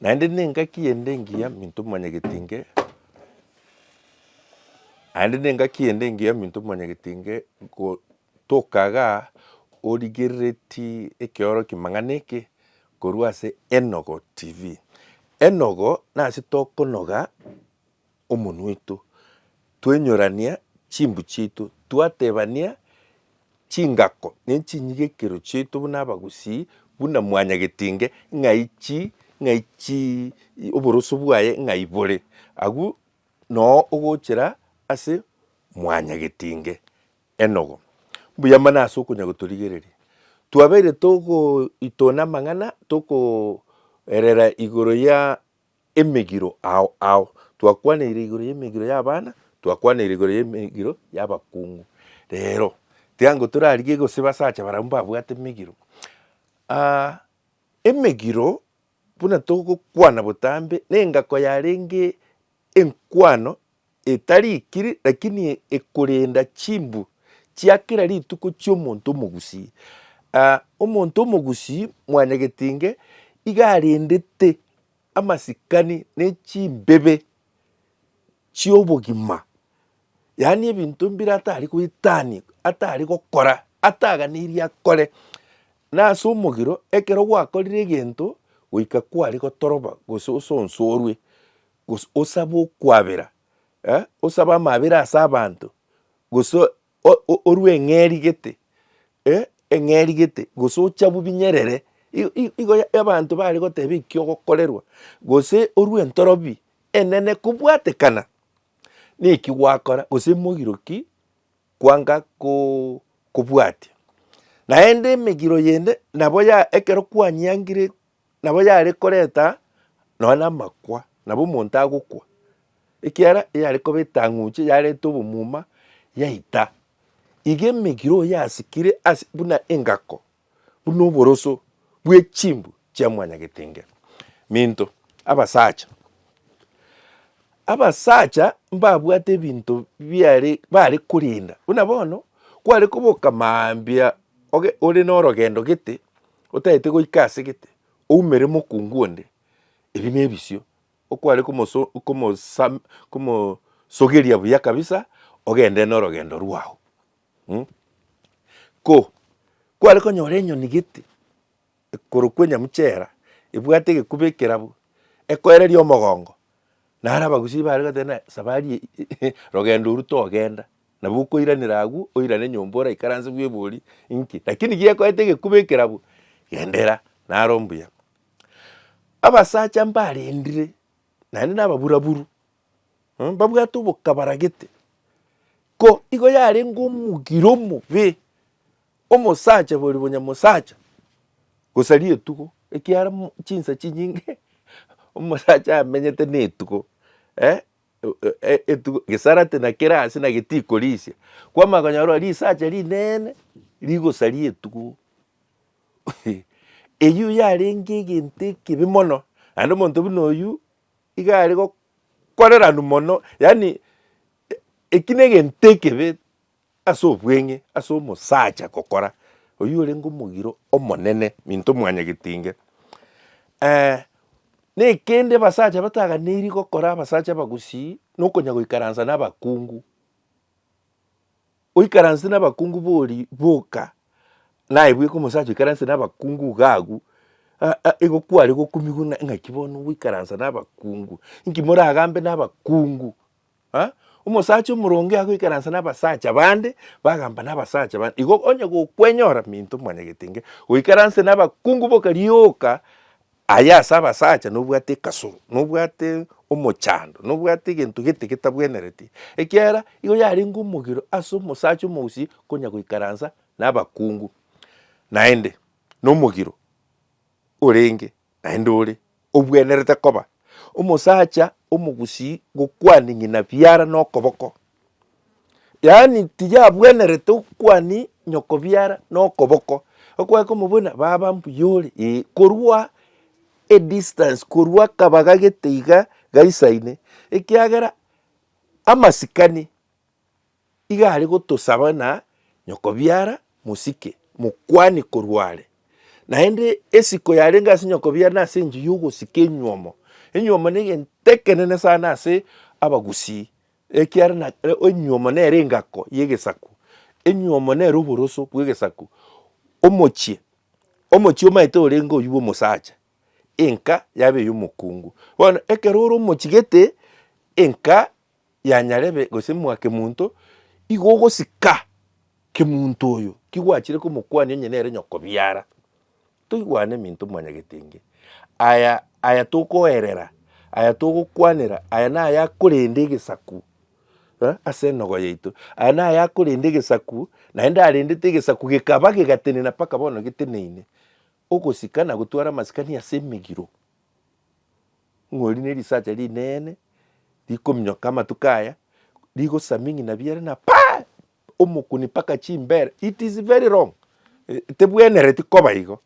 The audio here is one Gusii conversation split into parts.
Naende nengaki ende engiya minto mwanyagetinge, naende nengaki ende engiya minto mwanyagetinge go tokaga origerereti ekeoroki mang'ana eke korwa ase Enogo TV. Enogo nase tokonoga. omonwa oito, twenyorania chimbu chiaito, twatebania chingako ne chinyigekero chiaito buna abagusii, buna mwanyagetinge ng'ai chi, ng'ai chi oboroso bwaye ng'ai bore, agwo noo ogochera ase mwanyagetinge. Enogo, mbuya mono ase okonya gotorigereria. Twabeire togoitona amang'ana tokoerera igoro ya Emegiro ao ao. Twakwanaire igoro y'emegiro y'abana, twakwanaire igoro y'emegiro y'abakungu. Rero, tiango torarigie gose basacha baria mbabwate emegiro. Emegiro, buna togokwana botambe, nengako yarenge enkwano etarikiri, lakini ekorenda chimbu chia kera rituko chi'omonto omogusii. Ah, omonto omogusii mwanyagetinge iga arendete amasikani ne chimbebe chi'obogima, yaani ebinto mbire atari goetania, atari gokora, ataganeirie akore. Na ase omogiro, ekero gwakorire egento goika kware gotoroba gose osonsorwe, gose osabe okwabera, osabe amabera ase abanto, gose orue eng'eri gete, eng'eri gete, gose ochabwe binyerere, igo abanto bare goteba ekio ogokorerwa, gose orue entorobi enene kobwatekana neki gwakora gose mogiro ki kwanga kobwatia. Naende emegiro yende nabo ya ekero kwanyiangire. Nabo yare koreta nonya namakwa, nabo omonto agokwa, ekiagera yare koba etang'uche yareta obomuma yaita. Iga emegiro oyo yasikire ase buna engako, buna oboroso bwe chimbu chia mwanyagetengera. Minto, abasacha, abasacha mbabwate ebinto biare bare korenda, buna bono kware koboka mambia oge ore norogendo gete, Otagete goika ase gete, oumere mokungu onde, ebi nebisio, okware komoso, komosa, komosogeria buya kabisa, ogende norogendo rwao. Mh. Ko, kware konyora enyoni gete, ekorokwa enyamucha era, ebwate egekuba ekerabu, ekoereria omogongo, naro abagusii bare goteba na sabari eye, rogendo oru togenda, Nabo okoiranera agwo, oirane nyomba oraikaranse bwebori, inki? Lakini gekoete egekuba ekerabu, genderera, naro mbuya. Abasacha mbarendire, naende nababuraburu, mh, mbabwate obokabaragete, ko igo yarenge omogire omobe, omosacha bori bonyamosacha, gosa rietugo, ekiara mo chinsa chinyinge omosacha amenyete netugo, eh. e- etugo gesarate na kera ase na getikorisia kwama konyora risacha rinene rigosaria etugo eyio yarenge egento ekibe mono naende omonto buna oyio iga are gokoreranu mono yaani eki na egento ekebe Ase obweng'e ase omosacha gokora, oyio orenge omogiro omonene, minto mwanyagetinge. Eeh nekende abasacha bataganeiri gokora abasacha abagusii, nokonya goikaransa na abakungu. Oikaranse na abakungu bori boka, naye bweka omosacha oikaranse na abakungu iga agwo, aa igo kware gokumigwa ng'a ng'aki bono goikaransa na abakungu, inki moragambe na abakungu. Aa, omosacha omoronge agoikaransa nabasacha bande, bagamba nabasacha bande. Igo onye gokwenyora minto omwanyagete inge, goikaranse nabakungu boka rioka aya ase abasacha nobwate ekasoro, nobwate omochando, nobwate egento gete getabwenereti, ekiagera igo yarenge omogiro ase omosacha omousi konya goikaransa nabakungu. Naende nomogiro orenge Naende ore obwenerete koba omosacha omogusii gokwania ng'ina biara nokoboko, yaani tiyabwenerete okwania nyoko biara nokoboko, okoeka omobuna baba mbuya ore ee, korwa edistance korwa akabaga gete iga gaisaine ekiagera amasikani. Iga are gotosaba na nyokobiara mosike mokwane korwa are. Naende esiko yarenge ase nyokobiara na ase enchio y'ogosika enyuomo. Enyuomo negento ekenene sana ase abagusii, ekiara na enyuomo nere engako y'egesaku, enyuomo nere oboroso bw'egesaku. Omochie, omochie omaete orenge oyio bw'omosacha, enka yaba ey'omokungu. Bono ekero ore omochigete enka. ya nyarebe gose mwa kemunto, igo ogosika kemunto oyo kigwachire komokwania onye nere nyokobiara. Toigwane eminto mwanyagetenge, aya aya tokoerera, aya togokwanera, aya naya akorenda egesaku eh, ase enogo yaito, aya naya akorenda egesaku, naende arendete egesaku gekaba gegatenena mpaka bono geteneine. Ogosika na gotwara amasikani ase emegiro. Ng'ori nerisacha rinene rikominyoka amatuko aya rigosaming'ina biere na paa! omokuni mpaka chimbere it is very wrong tebwenereti koba igo.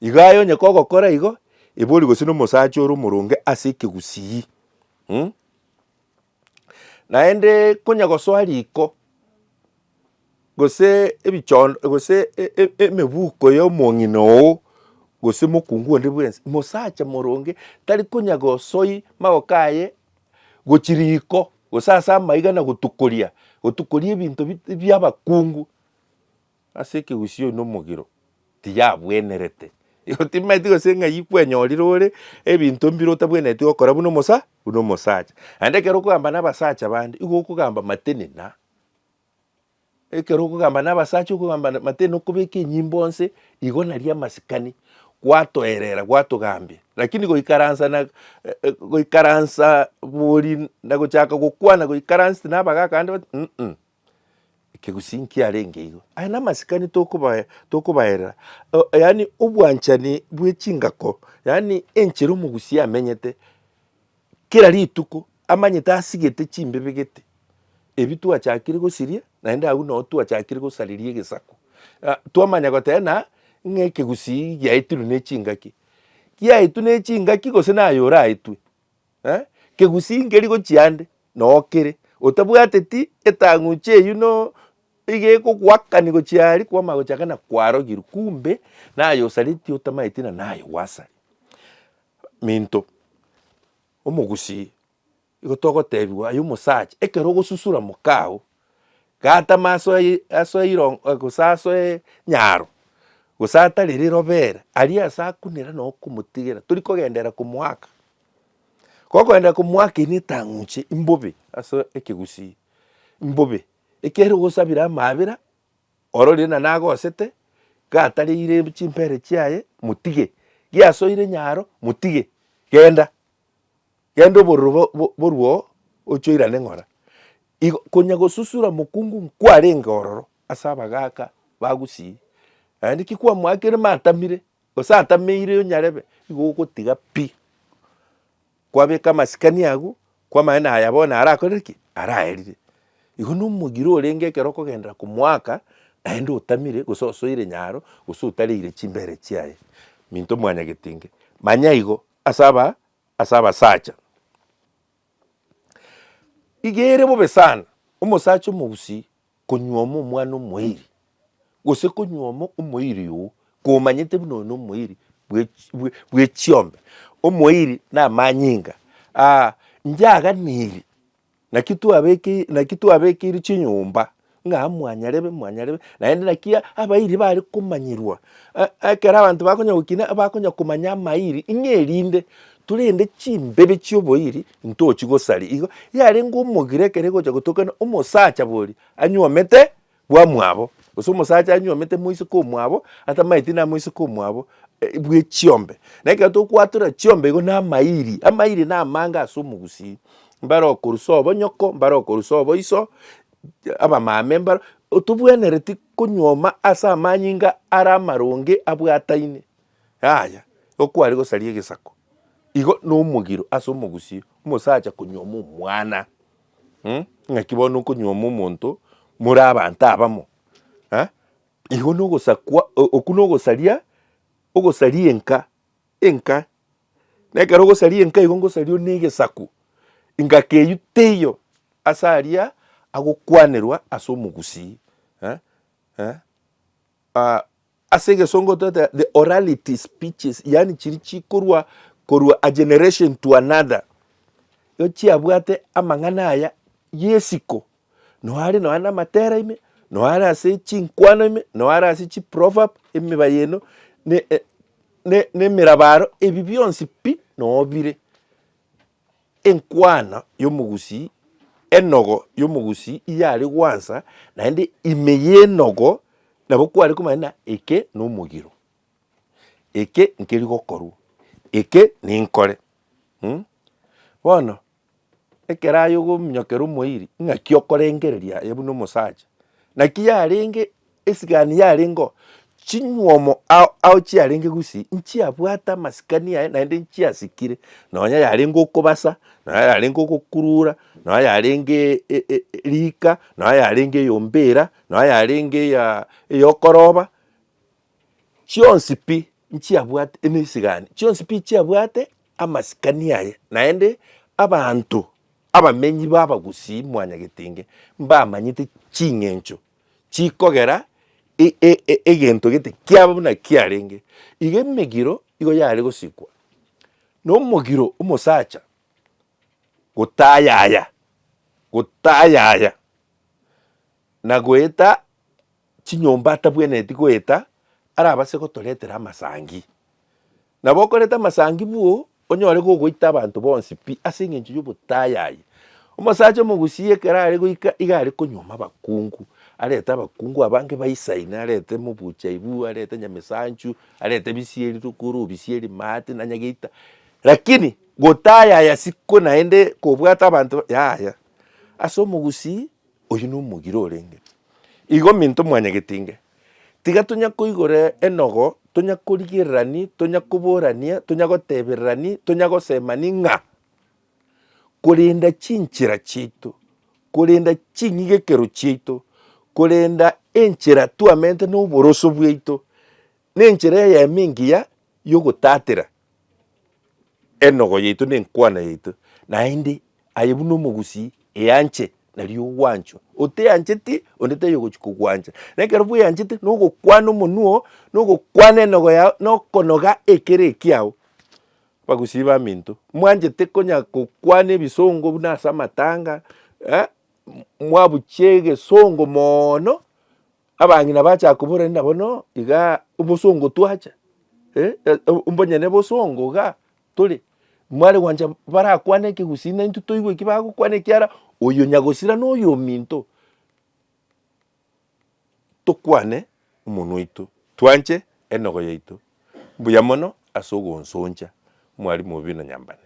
Igo aye onye kogokora igo ebori gose nomosacha ore omoronge ase ekegusii mh Naende konya gosoa riko, gose ebichoo gose emebuko ya omong'ina oo, gose mokungu onde bwensi, mosacha moronge tari konya gosoi magoko aye gochia riko, gose ase amaiga na gotukoria, gotukoria ebinto bi biabakungu. Ase ekegusii oino omogiro tiyabwenerete. Igo timaeti gose ng'ai kwenyorire ore ebinto mbire otabwenereti gokora buna omosa buna omosacha. Naende ekero okogamba na abasacha bande igo okogamba matene na. Ekero okogamba na abasacha okogamba matene na okobeka enyimbo nse igo naria amasikani gwatoerera gwatogambia. Lakini goikaransa na goikaransa bori na gochaka gokwana goikaransete na abagaka bande bati mmh. Ekegusii nkiarenge igo. Aya namasikani tokobae, tokobaerera, eh, yaani obwanchani bwe chingako, yaani enchera omogusii amenyete, kera rituko amanyete asigete chimbibe gete, ebi twachakire gosiria, naende agwo noo twachakire gosariria egesaku. Ah, twamanya goteba ng'a, ng'a ekegusii giaetirwe ne chingaki, giaetwe ne chingaki gose naye oraetwe? Kegusii nkeri gochia ande nokere, otabwateti etang'uche eyio no iga ekogoakani gochia aria kwamanya gochia ng'a nakwarogirwe kumbe naye osareti otamaeti na naye gwasare. Minto, omogusii igo togotebiwa aye omosacha ekero ogosusura mokao gatama asoe asoe iron gose asoe nyaro gose atare rirobe ere aria ase akunera nokomotigera tori kogenderera komoaka. Gokoenda komwakina etang'unche imbobe ase ekegusii, imbobe ekero ogosabira amaabera, ororie na nagosete, gatareire chimbere chiaye motige, giasoire nyaro motige, genda, genda obororo bo- bo- borwe oo oche oirane ng'ora. Igo konya gosusura mokungu nkwarenge ororo ase abagaaka ba gusii, naende ki kwamwakire matamire Gose antameire onyarebe, igo ogotiga pi, kwabeka amasikani agwo, kwamanya naya bono arakorire ki? araerire. Igo na omogire orenge ekero okogenderera komoaka, naende otamire gose osoire nyaro, gose otareire chimbere chiaye. Minto mwanyagetinge, manya igo ase aba ase abasacha. Iga ere bobe sana, omosacha omogusii Konyuoma omwana omoiri, gose konyuoma omoiri oo komanyete buna oyo nomoiri bwechiombe. Omoiri namanyinga aa inche aganiri naki twabekeire naki twabekeire chinyomba ng'a mwanyarebe mwanyarebe naende naki abairi bare komanyerwa ekero abanto bakonya gokina bakonya komanya amairi ng'a erinde Torende chimbebi chi'oboiri ntochi gosaria. Igo yarenge omogire ekero egocha gotokana omosacha boria anywomete bwamwabo, gose omosacha anywomete moiseke omwabo atamaeti na moiseke omwabo bw'echiombe. Na ekero togokwatora chiombe igo namairi, amairi namange ase omogusii, mbare okorusa obonyoko, mbare okorusa oboiso, abamame mbaro, otobwenereti konywoma ase amanyinga ara amaronge abwataine. Yaya, igo kware gosaria egesako, igo na omogiro ase omogusii, omosacha konyuoma omwana mh, ng'aki bono okonyuoma omonto more abanto abamo eh, igo na ogosakwa o- okwo na ogosaria, ogosaria enka, enka. Na ekero ogosaria enka igo ngosaria ore na egesaku, engaki eywo teiyo ase aria agokwanerwa ase omogusii eh, eh, ah. Ase egesongo toteba the orality speeches, yaani chiri chikorwa korwa a generation to another, igo chiabwate amang'ana aya y'esiko, nonya are nonya namatera ime, nonya are ase chinkwano ime, nonya are ase chiproverb, emeba y'eno, ne- e- ne- nemerabaro, ebi bionsi pi nonya bire. enkwana y'omogusii, enogo y'omogusii iye are gwansa, naende ime y'enogo nabo kware komanya ng'a eke nomogiro, eke nkeri gokorwa, eke ninkore um. Bono ekero aye ogominyokera omoiri ng'aki okorengereria aye buna omosacha, naki yarenge Esigani yarengeo chinywomo ao ao chiarenge gusii, nchiabwate amasikani aye naende nchiasikire, nonya yarenge okobasa, nonya yarenge ogokurura, nonya yarenge e- e- e- riika, nonya yarenge eyomba era, nonya yarenge eyaa eyokoroba, chionsi pi nchiabwate eme esigani chionsi pi chiabwate amasikani aye, naende abanto abamenyi ba abagusii mwanyagetenge, mbamanyete ching'encho chikogera e- e- e- egento gete kiaba buna kiarenge. Igo emegiro igo yare gosikwa na omogiro omosacha gotayaya, gotayaya na goeta chinyomba atabwenereti goeta arabase gotoretera amasangi. Nabo okorete amasangibu, onyore gogoita abanto bonsi pi ase engencho y'obotayayi. Omosacha omogusii ekero are goika iga are konyuoma abakungu, arete abakungu abange baisaine, arete mobuchaibu, arete nyamesanchu, arete bisieri rukuru, bisieri maate, na nyageita. Lakini gotayaya siko naende kobwate abanto yaya. Ase omogusii Oyio nomogire orenge igo minto mwanyegetinge. Tiga tonya koigora enogo, tonya korigererani, tonya koborania, tonya gotebererani, tonya gosemani ng'a korenda chinchera chiaito, korenda ching'igekero chiaito, korenda enchera twamenete noboroso bwaito, nenchera eyemo engiya yogotatera. Enogo yaito ne enkwana yaito, naende aye buna omogusii eanche nario ogwanchwa. Oteancheti onde taiyo ogochia kogwancha. Na ekero bweanchete na ogokwana omonwa oo, na ogokwana enogo yao, na okonoga ekere ekiao. Abagusii baminto, mwanchete konya gokwana ebisongo buna ase amatanga, eh, mwabuchia egesongo moono, Abang'ina bachaka kobora ng'a nabo no iga obosongo twacha, eh, mbonyene obosongo iga tore, mware gwancha barakwane ekegusii na intwe toigwe ki bagokwana ekiara oyo nyagosira na oyo ominto, tokwane omonwa oito, twanche enogo yaito, mbuya mono ase ogonsoncha mwarimu obe na nyambane.